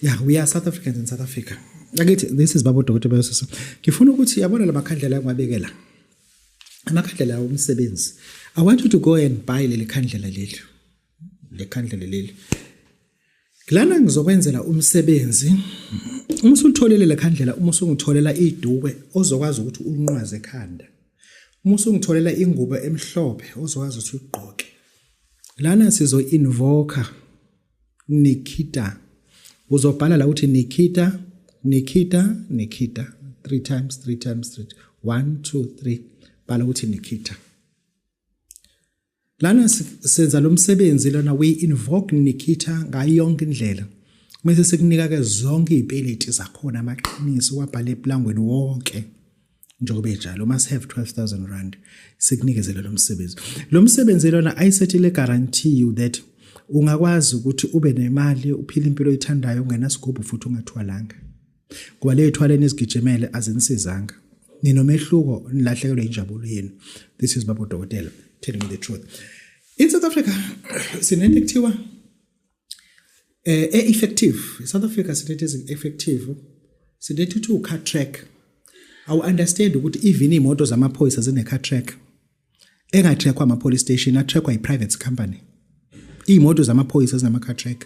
yeah we are south africans in south africa akithi this is babo dokotela bayosisa ngifuna ukuthi yabona lamakhandlela angiwabekela amakhandlela omsebenzi i want you to go and buy leli khandlela leli lekhandlela leli lana ngizokwenzela umsebenzi uma usulitholele lekhandlela uma usungitholela iduke ozokwazi ukuthi ulinqwaze ekhanda uma usungitholela ingubo emhlophe ozokwazi ukuthi ugqoke lana sizo invoker Nikita. Uzobhala la uthi Nikita, Nikita, Nikita. Three times, three times, three. One, two, three. Bhala uthi Nikita. Lana senza lo msebenzi lona we invoke Nikita ngayo yonke indlela. Mese sekunika ke zonke izipeneti zakhona amaqiniso wabhala eplangweni wonke. njengoba ejalo must have 12000 rand sikunikezela lo msebenzi lo msebenzi lona ayisethile guarantee you that ungakwazi ukuthi ube nemali uphile impilo oyithandayo ungenasigubhu futhi ungathwalanga ngoba leyo thwala enizigijimele azinisizanga ninomehluko nilahlekelwe injabulo yenu this is babo dokotela telling me the truth in south africa sinento ekuthiwa eh e effective South Africa sinethi ezi effective sinethi uthi u car track awu understand ukuthi even imoto zamaphoyisa zine car track enga trackwa ama police station a trackwa i private company imoto zamaphoyisa zinama car track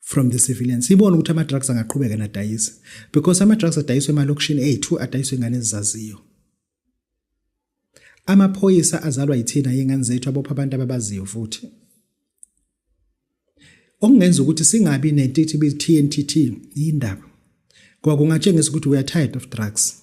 from the civilians sibone ukuthi ama-drugs angaqhubeka nadayisa because ama-drugs adayiswa emalokishini ethu adayiswa ingane ezizaziyo amaphoyisa azalwa yithina yengane zethu abopha abantu ababaziyo futhi okungenza ukuthi singabi nentithibi TNTT yindaba kwakungatshengisa ukuthi we are tired of drugs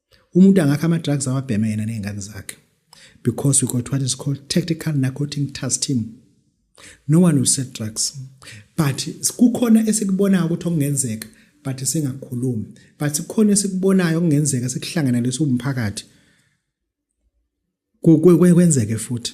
umuntu angakha ama drugs awabheme yena nezingane zakhe because we got what is called tactical narcotic task team no one will set drugs but kukhona esikubonayo ukuthi okungenzeka but singakhulumi but kukhona esikubonayo okungenzeka sikuhlangana leso umphakathi kwenzeke futhi